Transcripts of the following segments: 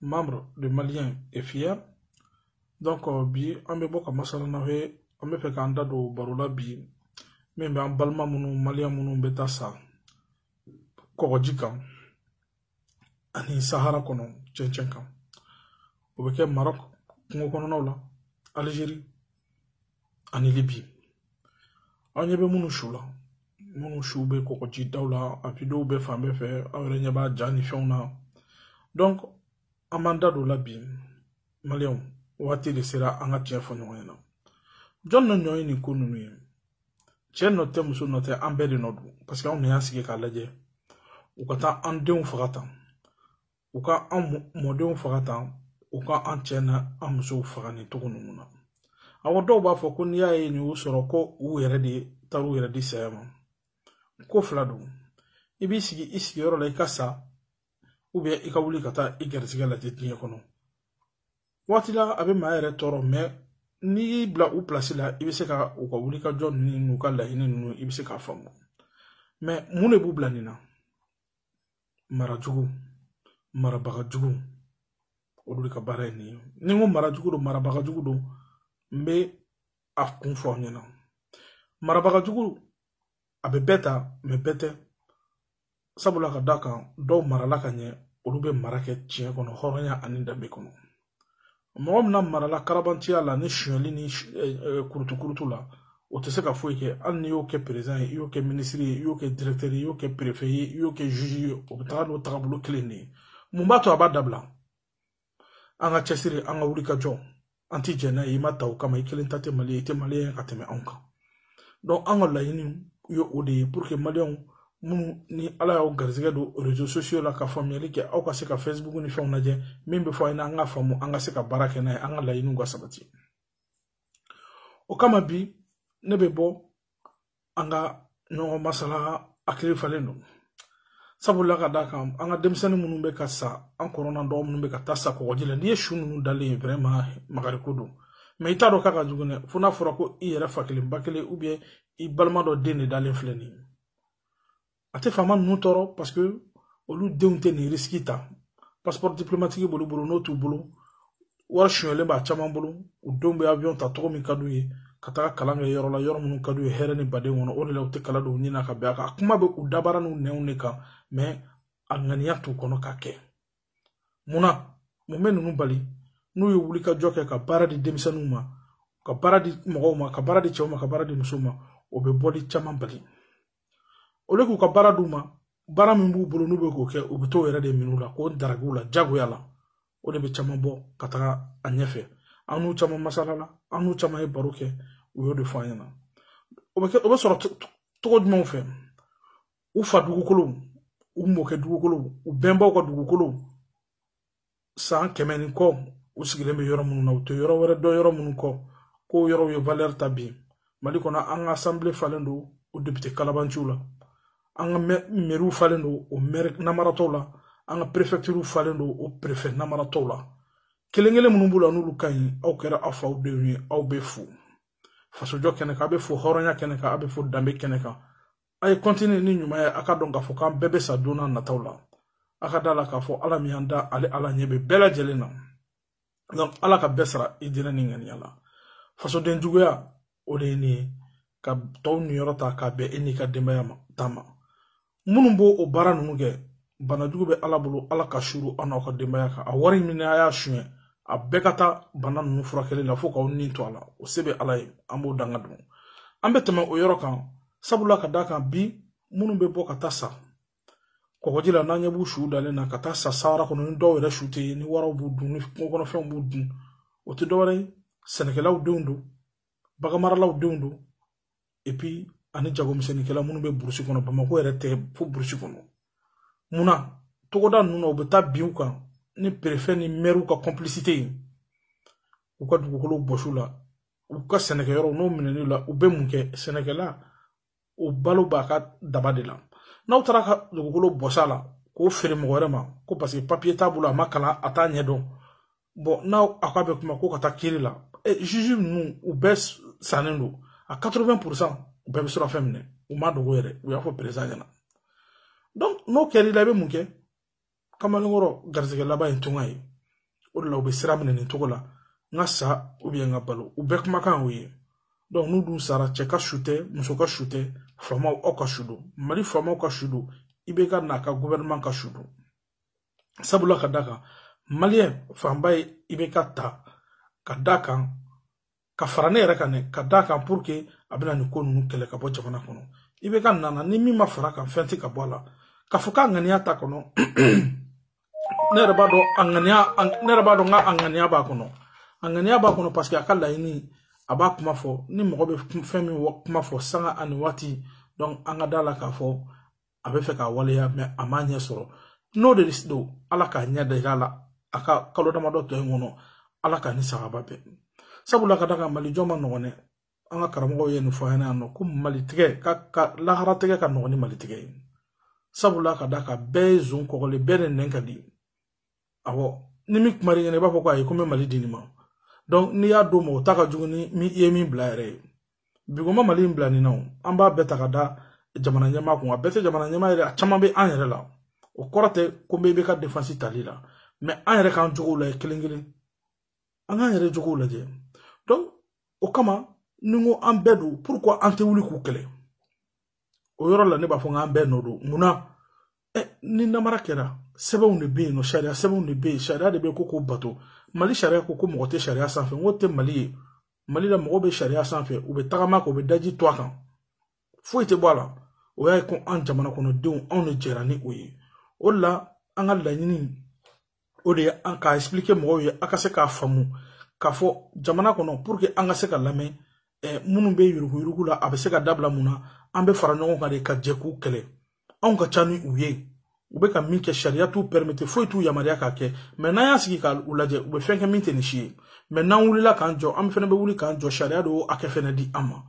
membre de malien et fier donc euh, bi an bɛ bɔ ka masala n'aw ye an bɛ fɛ k'an da don baro la bi min bɛ an balima minnu maliyɛn minnu bɛ taa sa kɔgɔji kan ani sahara kɔnɔ cɛncɛn kan o bɛ kɛ marɔk kungo kɔnɔnaw la alizeri ani libi aw ɲɛ bɛ minnu su la minnu su bɛ kɔgɔji daw la a videow bɛ fan bɛɛ fɛ aw yɛrɛ ɲɛ b'a ja ni fɛnw na donc an b'an da don o la bi maliyɛnw waati de sera an ka tiɲɛ fɔ ɲɔgɔn ɲɛna jɔn nɔ ɲɔ ye nin ko ninnu ye cɛ nɔ tɛ muso nɔ tɛ an bɛɛ de nɔ don parce que anw de y'an sigi k'a lajɛ u ka taa an denw faga tan u ka an mɔdenw faga tan u ka an cɛ n'an musow faga nin cogo ninnu na awɔ dɔw b'a fɔ ko n'i y'a ye nin y'u sɔrɔ ko u yɛrɛ de taara u yɛrɛ di saya ma ko fila don i b'i sigi i sigiyɔrɔ la i ka sa ou bien i ka wuli ka taa i garisigɛ lajɛ diɲɛ kɔnɔ waati la a bɛ maa yɛrɛ tɔɔrɔ mɛ n'i y'i bila u pilasi la i bɛ se ka u ka wulikajɔ ninnu n'u ka laɲini ninnu i bɛ se k'a faamu mɛ mun de b'u bila nin na marajugu marabaga jugu olu de ka baara ye nin ye ni n ko marajugu don marabaga jugu don n bɛ a kun fɔ aw ɲɛna marabaga jugu a bɛ bɛɛ ta mɛ bɛɛ tɛ sabula ka d'a kan dɔw marala ka ɲɛ olu bɛ mara kɛ tiɲɛ kɔnɔ hɔrɔnya ani danbe kɔnɔ mɔgɔ min lamarala kalabantiya la ni sonyali ni kurutukurutu la o tɛ se ka foyi kɛ hali n'i y'o kɛ perezidan ye i y'o kɛ minisiri ye i y'o kɛ dirɛkitɛri ye i y'o kɛ perefe ye i y'o kɛ zuzi ye o bɛ taga n'o tagabolo kelen de ye mun b'a to a b'a dabila an ka cɛsiri an ka wuli ka jɔ an ti jɛn n'a ye i ma ta o kama i kelen ta tɛ mali ye i tɛ mali ye ka tɛmɛ anw kan donc an ka laɲini ye o de ye pour que maliyɛnw minnu ni ala y'aw garisɛgɛ don réseaux sociaux la ka faamuyali kɛ aw ka se ka facebook ni fɛnw lajɛ min bɛ fɔ a ɲɛna an k'a faamu an ka se ka baara kɛ n'a ye an ka laɲiniw ka sabati o kama bi ne bɛ bɔ an ka ɲɔgɔn masala hakili falen don sabula ka d'a kan an ka denmisɛnnin minnu bɛ ka sa an kɔrɔ n'an dɔgɔ minnu bɛ ka taa sa kɔgɔji la n'i ye su ninnu dalen ye vraiment makariko don mɛ i t'a dɔn k'a ka jugu dɛ fo n'a fɔra ko i yɛrɛ fa kelen ba kelen ou bien i balima dɔ den de dalen filɛ nin ye a tɛ faama ninnu tɔɔrɔ parce que olu denw tɛ nin risiki ta passeport diplomatique b'olu bolo n'o t'u bolo wari sonyɛlen b'a caman bolo u denw bɛ avion ta cogo min ka d'u ye ka taga kalan kɛ yɔrɔ la yɔrɔ minnu ka d'u ye hɛrɛ ni baden kɔnɔ o de la u tɛ kala don u ɲin na ka bɛn a kan a kuma bɛ u dabara n'u nɛnw de kan mɛ a ŋaniya t'u kɔnɔ k'a kɛ mun na mun bɛ ninnu bali n'u ye wulikajɔ kɛ ka baara di denmisɛnninw ma ka baara di mɔgɔw ma ka baara di cɛw ma ka baara di musow ma o bɛ bɔli caman bali olu k'u ka baara d'u ma baara min b'u bolo n'u bɛ k'o kɛ u bɛ t'o yɛrɛ de minɛ u la k'o daraki u la jagoya la o de bɛ caman bɔ ka taga a ɲɛfɛ an n'u caman masalala an n'u caman ye baro kɛ u y'o de fɔ an ɲɛna o bɛ sɔrɔ cogo jumɛnw fɛ u fa dugukolow u mɔkɛ dugukolow u bɛnbaw ka dugukolow san kɛmɛ ni kɔ u sigilen bɛ yɔrɔ minnu na u tɛ yɔrɔ wɛrɛ dɔn yɔrɔ minnu kɔ k'o yɔrɔw ye valɛri ta bi mali kɔnɔ an ka asanbile falen don o depite kalabanciw la an ka mɛriw falen don o mɛri namaratɔw la an ka perefɛktiriw falen don o perefɛ namaratɔw la kelen kelen minnu b'u la n'olu ka ɲi aw kɛra aw faw denw ye aw bɛ fo fasojɔ kɛnɛ kan a bɛ fo hɔrɔnya kɛnɛ kan a bɛ fo danbe kɛnɛ kan a ye kɔntini ni ɲuman ye a k'a dɔn k'a fɔ k'an bɛɛ bɛ sa don n'a nataw la a ka da la k'a fɔ ala min y'an da ale ala ɲɛ bɛ bɛɛ lajɛlen na donc ala ka bɛɛ sara i diinɛ ni ŋaniya la fasoden juguya o de ye nin ye ka tɔw niyɔrɔ ta k'a bɛn e n'i ka denbaya ta ma minnu b'o o baara ninnu kɛ banajugu bɛ ala bolo ala k'a suuru aw n'aw ka denbaya kan a wari min a y'a suɲɛ a bɛɛ ka taa bana ninnu furakɛli la fo k'aw ni to a la o se bɛ ala ye an b'o danga don an bɛ tɛmɛ o yɔrɔ kan sabula ka d'a kan bi minnu bɛ bɔ ka taa sa kɔgɔji la n'an ɲɛ b'u su dalen na ka taa sa sahara kɔnɔ ni dɔw yɛrɛ su tɛ ye ni waraw b'u dun ni kungo kɔnɔfɛnw b'u dun o tɛ dɔwɛrɛ ye sɛnɛkɛlaw denw don baganmaralaw denw don epi ani jagomisɛnninkɛla minnu bɛ burusi kɔnɔ bamakɔ yɛrɛ tɛ fo burusi kɔnɔ mun na togoda ninnu na u bɛ taa bin u kan ni perefɛ ni mɛriw ka kɔnpilisite ye u ka dugukolo bɔsi u la u ka sɛnɛkɛyɔrɔw n'o minɛli la u bɛ mun kɛ sɛnɛkɛla o balo b'a ka daba de la n'aw taara a ka dugukolo bɔs'a la k'o feere mɔgɔ wɛrɛ ma ko paseke papiye t'a bolo a ma kalan a t'a ɲɛdɔn bɔn n'aw a ko a bɛ kuma ko ka taa kiiri la juge ninnu u bɛɛ sannen don a 80 pourcent u bɛɛ bɛ surɔfɛn minɛ u m'a dogo yɛrɛ u y'a fɔ perezan ɲɛna donc n'o kɛra i la i bɛ mun kɛ kamalenkɔrɔ garisɛgɛ laban ye tunga ye o de la u bɛ sira minɛ nin cogo la n ka sa ubiyɛn n ka balo u bɛɛ kumakan y'o ye donc n'u dun sara cɛ ka su tɛ muso ka su tɛ faamaw aw ka su don mali faamaw ka su don ibɛka n'a ka gouvernement ka su don sabula ka da kan maliyɛn fanba ye ibɛka ta ka da kan ka fara ne yɛrɛ kan dɛ ka da kan pour que a bɛna nin ko ninnu kɛlɛ ka bɔ jamana kɔnɔ ibɛka nana ni min ma fara a kan fɛn tɛ ka bɔ a la k'a fɔ k'a ŋaniya t'a kɔnɔ ne yɛrɛ b'a dɔn k'a ŋaniya b'a kɔnɔ a ŋaniya b'a kɔnɔ parce que a ka laɲini a b'a kuma fɔ ni mɔgɔ bɛ fɛn min kuma fɔ sanga ani waati donc an ka da la k'a fɔ a b'a fɛ k'a waleya mɛ a m'a ɲɛ sɔrɔ n'o de don ala k'a ɲɛ da i la a ka kalo damadɔ tɔ in kɔnɔ ala k'a ni sagaba bɛn sabula k'a da a kan mali jɔ man nɔgɔn dɛ an ka karamɔgɔw ye nin fɔ an yan nɔ ko mali tigɛ ka ka lahara tigɛ ka nɔgɔn ni mali tigɛ ye sabula k'a da a kan bɛɛ ye zon kɔgɔlen bɛɛ de nɛn ka di awɔ ni min kuma ɲɛna i b'a fɔ ko ayi ko n bɛ mali di nin ma donc n'i y'a d'o ma o ta ka jugu ni min i ye min bila yɛrɛ ye bigoma mali in bila nin na o an b'a bɛɛ ta k'a da jamana ɲɛmaa kun a bɛɛ tɛ jamana ɲɛmaa yɛrɛ a caman bɛ an yɛrɛ la o kɔrɔ tɛ ko n bɛ ibk defansi tali la mɛ an yɛrɛ k'an jogow lajɛ kelen kelen an k'an yɛrɛ jogow lajɛ donc o kama ni n ko an bɛɛ don pourquoi an tɛ wuli k'u kɛlɛ o yɔrɔ la ne b'a fɔ n k'an bɛɛ nɔ don mun na ɛ ni namara kɛra sɛbɛnw de bɛ yen nɔ sariya sɛbɛnw de bɛ yen sariya de bɛ yen ko k'o bato mali sariya ko ko mɔgɔ tɛ sariya sanfɛ n ko o tɛ mali ye mali la mɔgɔw bɛ sariya sanfɛ u bɛ tagama a kan u bɛ daji tu a kan foyi tɛ bɔ a la o y'a ye ko an jamana kɔnɔdenw anw de jɛra ni o ye o de la an ka laɲini o de ye an k'a explike mɔgɔw ye a ka se k'a faamu k'a fɔ jamana kɔnɔ pour que an ka se k'a lamɛn eh, minnu bɛ yuruguyurugu la a bɛ se ka dabila mun na an bɛ fara ɲɔgɔn kan de ka jɛ k'u kɛlɛ anw ka ca ni u ye u bɛ ka min kɛ sariya t'u pɛrimete foyi t'u yamaruya k'a kɛ mɛ n'an y'an sigi k'u lajɛ u bɛ fɛn kɛ min tɛ nin si ye mɛ n'an wulila k'an jɔ an fana bɛ wuli k'an jɔ sariya de y'o hakɛ fana di an ma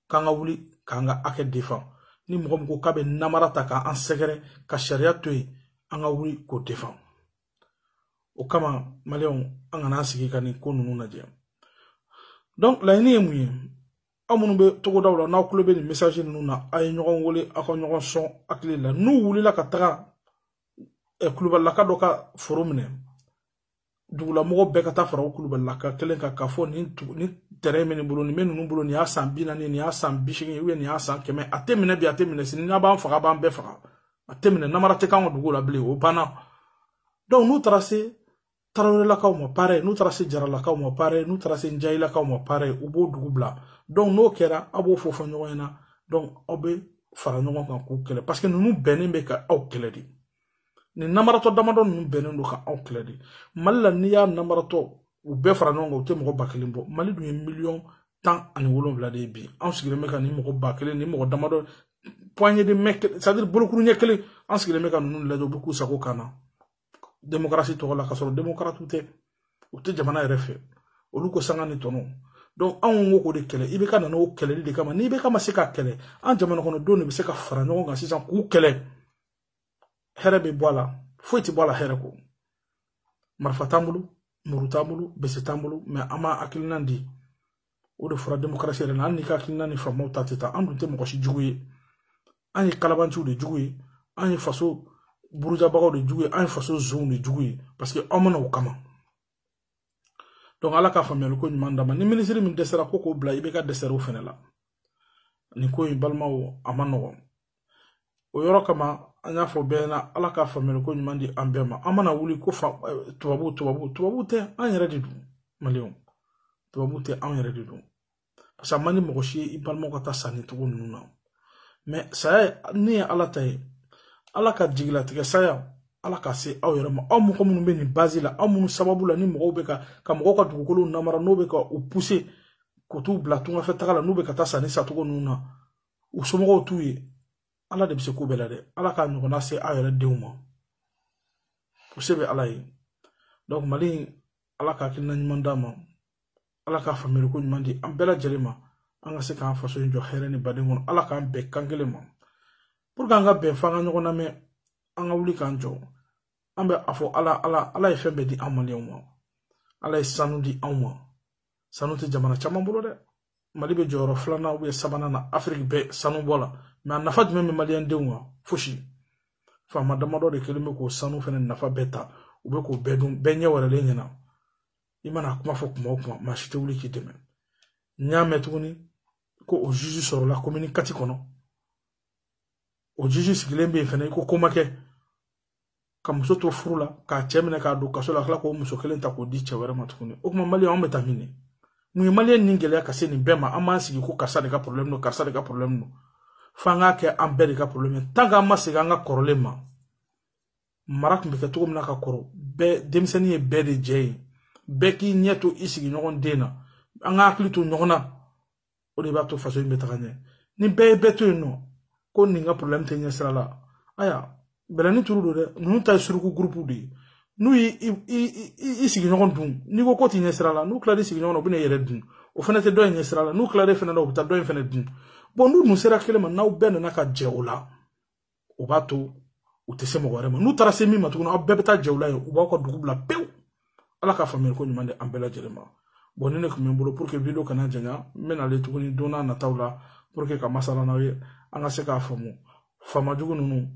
k'an ka wuli k'an ka hakɛ defan ni mɔgɔ min ko k'a bɛ namara ta k'an sɛgɛrɛ ka sariya to yen an ka wuli k'o defan o kama maliyɛnw an kana an sigi ka nin ko ninnu lajɛ donc laɲini ye mun ye aw minnu bɛ togodaw la n'aw tulo bɛ nin message ninnu na a ye ɲɔgɔn wele aw ka ɲɔgɔn sɔn hakili la n'u wulila ka taga kulubalilaka dɔ ka foro minɛ dugulamɔgɔ bɛɛ ka taa fara o kulubalilaka kelen kan k'a fɔ nin tɛrɛn bɛ nin bolo nin bɛ ninnu bolo nin y'a san bi naani nin y'a san bi seegin nin y'a san kɛmɛ a tɛ minɛ bi a tɛ minɛ sini n'a b'an faga a b'an bɛɛ faga a tɛ minɛ namara tɛ k'an ka dugu la bilen o banna n'u taara se tarawelelakaw ma pareil n'u taara se jaralakaw ma pareil n'u taara se njayilakaw ma pareil u b'o dugu bila donc n'o kɛra aw b'o fɔ fɔ ɲɔgɔn ɲɛna donc aw bɛ fara ɲɔgɔn kan k'u kɛlɛ parce que ninnu bɛnnen bɛ ka aw kɛlɛ de nin namaratɔ damadɔ ninnu bɛnnen don ka aw kɛlɛ de mali la n'i y'a namaratɔw bɛɛ fara ɲɔgɔn kan u tɛ mɔgɔ ba kelen bɔ mali dun ye miliyɔn tan ani wolonwula de ye bi anw sigilen bɛ ka nin mɔgɔ ba kelen nin mɔgɔ damadɔ poignée de main c'est à dire bolokuru ɲɛ kelen an sigilen bɛ ka ninnu lajɛ u bɛ k'u sago k'an na démocratie tɔgɔ la ka sɔrɔ démocratiw tɛ u tɛ jamana yɛrɛ fɛ olu ko sanga ni tɔnɔ donc anw ko k'o de kɛlɛ ibk nana o kɛlɛli de kama ni ibk ma se k'a kɛlɛ an jamanakɔnɔdenw de bɛ se ka fara ɲɔgɔn kan sisan k'u kɛlɛ hɛrɛ bɛ bɔ a la foyi tɛ bɔ a la hɛrɛ kɔ marifa t'an bolo muru t'an bolo bese t'an bolo mɛ an b'an hakilina di o de fɔra demokarasi yɛrɛ la hali n'i ka hakilina ni faamaw ta tɛ taa an dun tɛ mɔgɔ si jugu ye an ye kalabanciw de jugu ye an ye faso burujabagaw de jugu ye an ye faso zonw de jugu ye parce que aw ma na o kama donc ala ka faamuyali ko ɲuman d'an ma ni minisiri min dɛsɛra ko k'o bila ibeka dɛsɛr'o fɛnɛ la nin ko in balimaw a man nɔgɔn o yɔrɔ kama an y'a fɔ bɛɛ ɲɛna ala ka faamuyali ko ɲuman di an bɛɛ ma an mana wuli ko eh, tubabu tubabu tubabu tɛ an yɛrɛ de don maliyɛnw tubabu tɛ an yɛrɛ de don parce que a man di mɔgɔ si ye i balimaw ka taa sa nin cogo ninnu na mɛ saya nin ye ala ta ye ala ka jigilatigɛ saya ala k'a se aw yɛrɛ ma aw mɔgɔ minnu bɛ nin bazi la aw minnu sababu la ni mɔgɔw bɛ ka ka mɔgɔw ka dugukolow namara n'o bɛ ka u puse k'u t'u bila tungafɛ taga la n'u bɛ ka taa sa nin sacogo ninnu na u somɔgɔw t'u ye ala de bɛ se ko bɛɛ la dɛ ala k'a ɲɔgɔnna se aw yɛrɛ denw ma o se bɛ ala ye donc mali in ala ka hakilina ɲuman d'a ma ala ka faamuyali ko ɲuman di an bɛɛ lajɛlen ma an ka se k'an faso in jɔ hɛrɛ ni baden kɔnɔ ala k'an bɛn kan kelen ma pour que an ka bɛn fo an ka ɲɔgɔn lamɛn an ka wuli k'an jɔ an bɛ a fɔ ala ala ala ye fɛn bɛɛ di an maliyɛnw ma ala ye sanu di anw ma sanu tɛ jamana caman bolo dɛ mali bɛ jɔyɔrɔ filanan ubiyɛn sabanan na afiriki bɛɛ sanu bɔ la mɛ a nafa jumɛn bɛ maliyɛn denw kan fosi faama damadɔ de kɛlen bɛ k'o sanu fɛnɛ nafa bɛɛ ta u bɛ k'o bɛɛ dun bɛɛ ɲɛ wɛrɛlen ɲɛna i mana a kuma fɔ kuma o kuma maa si tɛ wuli k'i dɛmɛ n y'a mɛn tuguni ko o juge sɔrɔla komini kati kɔnɔ o juge sigilen bɛ yen fɛnɛ i ko ko ma kɛ ka muso to furu la k'a cɛ minɛ k'a don kaso la kila k'o muso kelen ta k'o di cɛ wɛrɛ ma tuguni o kuma maliyɛn anw bɛ taa min de mun ye maliyɛn nin gɛlɛya ka se nin bɛɛ ma an b'an sigi ko karisa de ka problème don karisa de ka problème don fo an k'a kɛ an bɛɛ de ka problème ye tant k'an ma segin an ka kɔrɔlen ma mara tun bɛ kɛ cogo min na ka kɔrɔ bɛɛ denmisɛnnin ye bɛɛ de jɛ ye bɛɛ k'i ɲɛ to i sigiɲɔgɔn den na an ka hakili to ɲɔgɔn na o de b'a to faso in bɛ taga ɲɛ ni bɛɛ ye bɛɛ to yen nɔ ko nin ka problème tɛ ɲɛ sira la aya bɛlɛni turu don dɛ ninnu ta ye suruku gurupu de ye n'u y'i i sigiɲɔgɔn dun n'i ko ko t'i ɲɛ sira la n'u tilal'i sigiɲɔgɔn na u bɛna i yɛrɛ dun o fana tɛ dɔ in ɲɛ sira la n'u tilal'e fana na u bɛ taa dɔ in fana dun bɔn n'u dun sera kelen ma n'aw bɛɛ nana ka jɛ o la o b'a to u tɛ se mɔgɔ wɛrɛ ma n'u taara se min ma tuguni aw bɛɛ bɛ taa jɛ o la yen u b'aw ka dugu bila pewu ala ka faamuyali ko ɲuman di an bɛɛ lajɛlen ma bɔn nin de tun bɛ n bolo pour que video kana janya n bɛna ale tuguni don n'a nataw la pour que ka masala n'aw ye an ka se k'a faamu faama jugu ninnu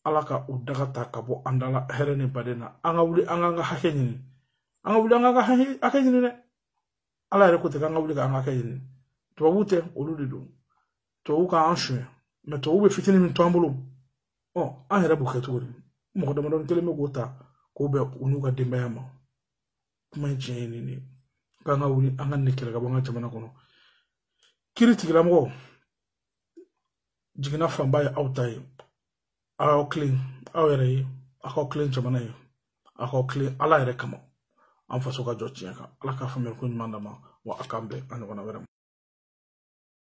ala ka u daga ta ka bɔ an da la hɛrɛ ni baden na an ka wuli an k'an ka hakɛ ɲini an ka wuli an k'an ka hakɛ ɲini dɛ ala yɛrɛ ko ten k'an ka wuli k'an ka hakɛ ɲini tubabuw tɛ olu de don tubabuw ka an suɲɛ mɛ tubabuw bɛ fitini min to an bolo ɔ an yɛrɛ b'o kɛ cogo di mɔgɔ damadɔni kelen bɛ k'o ta k'o bɛn u n'u ka denbaya ma kuma in tiɲɛ ye nin de ye k'an ka wuli an ka nin kɛlɛ ka bɔ an ka jamana kɔnɔ kiritigɛla mɔgɔ jiginna fanba ye aw ta ye aw tilen aw yɛrɛ ye aw ka tilen jamana ye aw ka tilen ala yɛrɛ kama an faso ka jɔ tiɲɛ kan ala k'a faamuyali ko ɲuman d'an ma wa a k'an bɛn a ɲɔgɔnna wɛrɛ ma